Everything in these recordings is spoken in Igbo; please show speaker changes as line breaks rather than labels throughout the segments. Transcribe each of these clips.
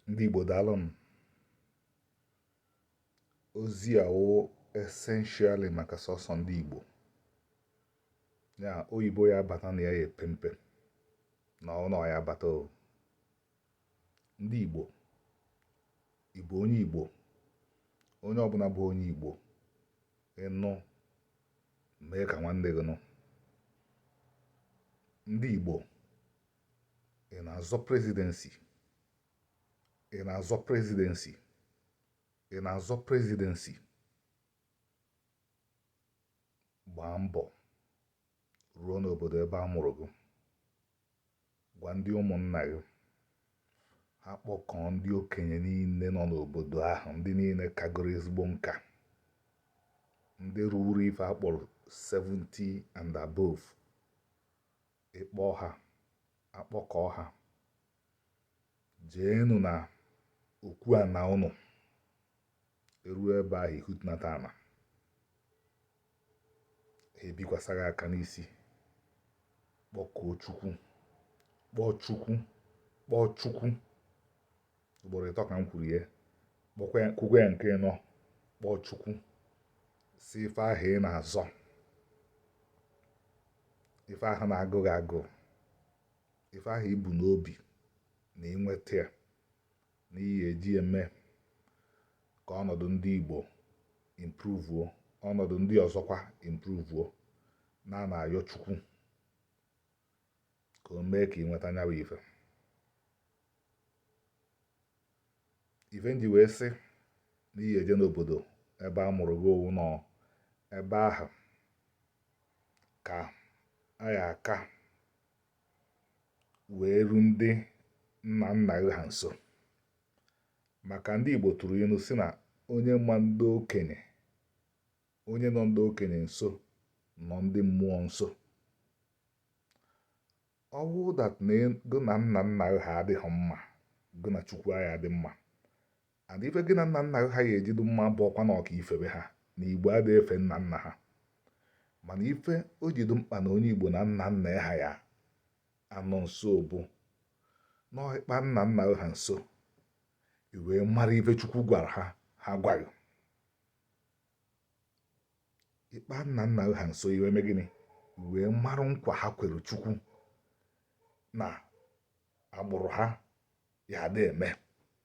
ndị Igbo daalụnụ ozi a wụ essentially maka sọsọ ndị Igbo ya oyibo ya abata na ya ya epe mpe na ọnụ ya abata o ndị Igbo Igbo onye Igbo onye ọbụla bụ onye Igbo ị nụ mee ka nwanne gị nụ ndị Igbo ị na-azọ presidency ị na-azọ presidency ị na-azọ presidency gbaa mbọ ruo n'obodo ebe a mụrụ gị gwa ndị ụmụnna gị ha kpọkọọ ndị okenye niile nọ n'obodo ahụ ndị niile kagoro ezigbo nka ndị ruru ife a kpọrọ 70 and above ị kpọ ha akpọkọọ ha jeenụ na okwu ana ụnụ eruo ebe ahụ i hudata ana ha ebikwasa gị aka n'isi kpọkuo chukwu kpọọ chukwu kpọọ chukwu ugboro ịtọ ka m kwuru ya kwukwe ya nke ịnọ kpọọ chukwu sị ife ahụ ị na-azọ ife ahụ na-agụ gị agụụ ife ahụ i bu n'obi na ị nweta ya na ị ya eji eme ka ọnọdụ ndị Igbo improvuo ọnọdụ ndị ọzọkwa improvuo na na-ayọ Chukwu ka o mee ka ị nweta nya wụ ife ife m ji wee sị na ị ya eje n'obodo ebe a mụrụ gị ọ wụ na ebe ahụ ka a ya aka wee ru ndị nna nna gị ha nso maka ndị Igbo tụrụ ilu sị na onye ma ndị okenye onye nọ ndị okenye nso nọ ndị mmụọ nso ọ bụrụ that na gị na nna nna gị ha adịghị mma gị na chukwu aya adị mma and ife gị na nna nna gị ha ya eji dụ mma bụ ọkwa na ọ ka i febe ha na igbo adịghị efe nna nna ha mana ife o ji dụ mkpa na onye igbo na nna nna ya ha ya anọ nso bụ na ị kpa nna nna gị ha nso i wee mara ife chukwu gwara ha ha gwa gị ị kpa nna nna ha nso i wee mee gịnị i wee marụ nkwa ha kwere chukwu na agbụrụ ha ya adị eme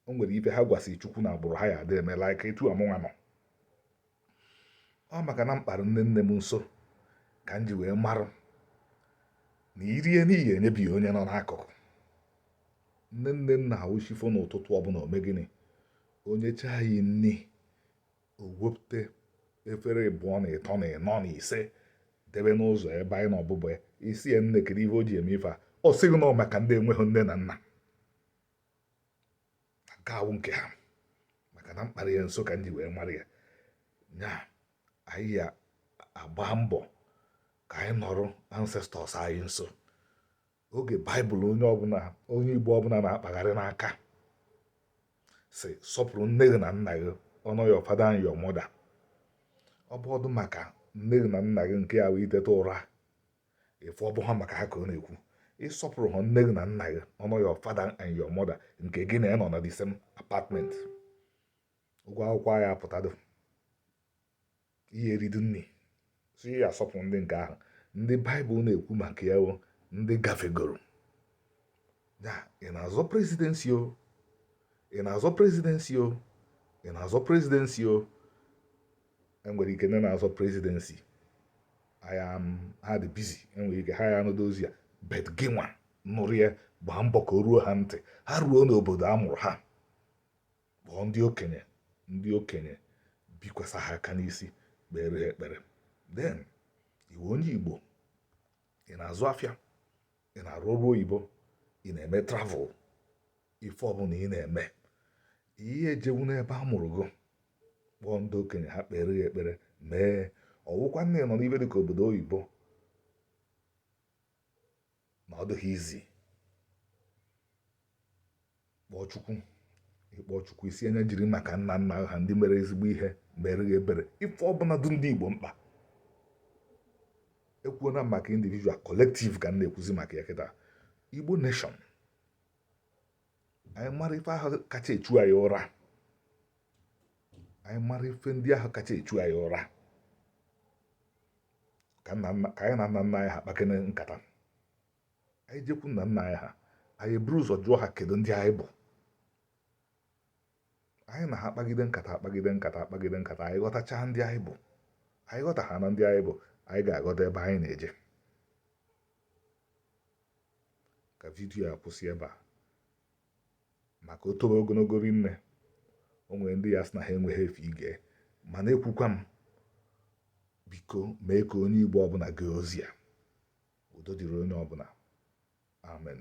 o nwere ife ha gwasị chukwu na agbụrụ ha ya adị eme like etu mụnwa nọ ọ maka na m kpara nne nne m nso ka m ji wee marụ na i rie nni ị ya enyebi onye nọ n'akụkụ nne nne m na ọ wụ chi fo n'ụtụtụ ọbụla o mee gịnị o nyechaa anyị nni o wepụta efere ịbụọ na ịtọ na ịnọ na ise debe n'ụzọ ebe anyị na ọbụbụ ya ị sị ya nne kedu ihe o ji eme ife a ọ sị gị na ọ maka ndị enweghị nne na nna nke a wụ nke ha maka na m kpara ya nso ka m ji wee mara ya nya anyị ya agba mbọ ka anyị nọrọ ancestors anyị nso oge baịbụl onye igbo ọbụla na-akpagharị n'aka sị sọpụrụ nne gị na nna gị honour your father and your mother ọ bụdụ maka nne gị na nna gị nke ọ wụ i teta ụra ị fụ ọ bụha maka ha ka ọ na-ekwu ị sọpụrụha nne gị na nna gị honour your father and your mother nke gị na ya nọ na the same apartment ụgwọ akwụkwọ ya apụtadụ ị ya eridu nni so ị ya asọpụ ndị nke ahụ ndị baịbụl na-ekwu maka ya bụ ndị gafegoro ya ị na-azọ presidency o ị na-azọ presidency o ị na-azọ presidency o e nwere ike ndị na-azọ presidency ha dị busy e nwere ike ha ya anụdụ ozi a but gị nwa nụrụ ya gbaa mbọ ka o ruo ha ntị ha ruo n'obodo a mụrụ ha kpọọ ndị okenye ndị okenye bikwasa ha aka n'isi kpere ha ekpere then ị wụ onye igbo ị na-azụ afịa ị na-arụ ọrụ oyibo ị na-eme travel ife ọbụla ị na-eme ị ya ejewu n'ebe a mụrụ gị kpọọ ndị okenye ha kpere ya ekpere ma ọ wụkwanụ na ị nọ n'ife dịka obodo oyibo na ọ dịghị easy kpọọ chukwu ị kpọọ chukwu ị sị ya na ya jiri maka nna nna ha ndị mere ezigbo ihe mere gị ebere ife ọbụla dị ndị igbo mkpa ekwuona maka individual collective ka m na-ekwuzi maka ya kịta igbo nation anyị mara ife ahụ kacha echu anyị ụra anyị mara ife ndị ahụ kacha echu anyị ụra ka anyị na nna nna anyị ha kpakene nkata anyị jekwu nna nna anyị ha anyị buru ụzọ jụọ ha kedu ndị anyị bụ anyị na ha akpagide nkata akpagide nkata akpagide nkata anyị ghọtachaa ndị anyị bụ anyị ghọta ha na ndị anyị bụ anyị ga-aghọta ebe anyị na-eje ka video a kwụsị ebe a maka o tobe ogologo rinne o nwere ndị ya-asị na ha enweghị efe ige mana ekwukwa m biko mee ka onye igbo ọbụla gee ozi a udo dịrị onye ọbụla amen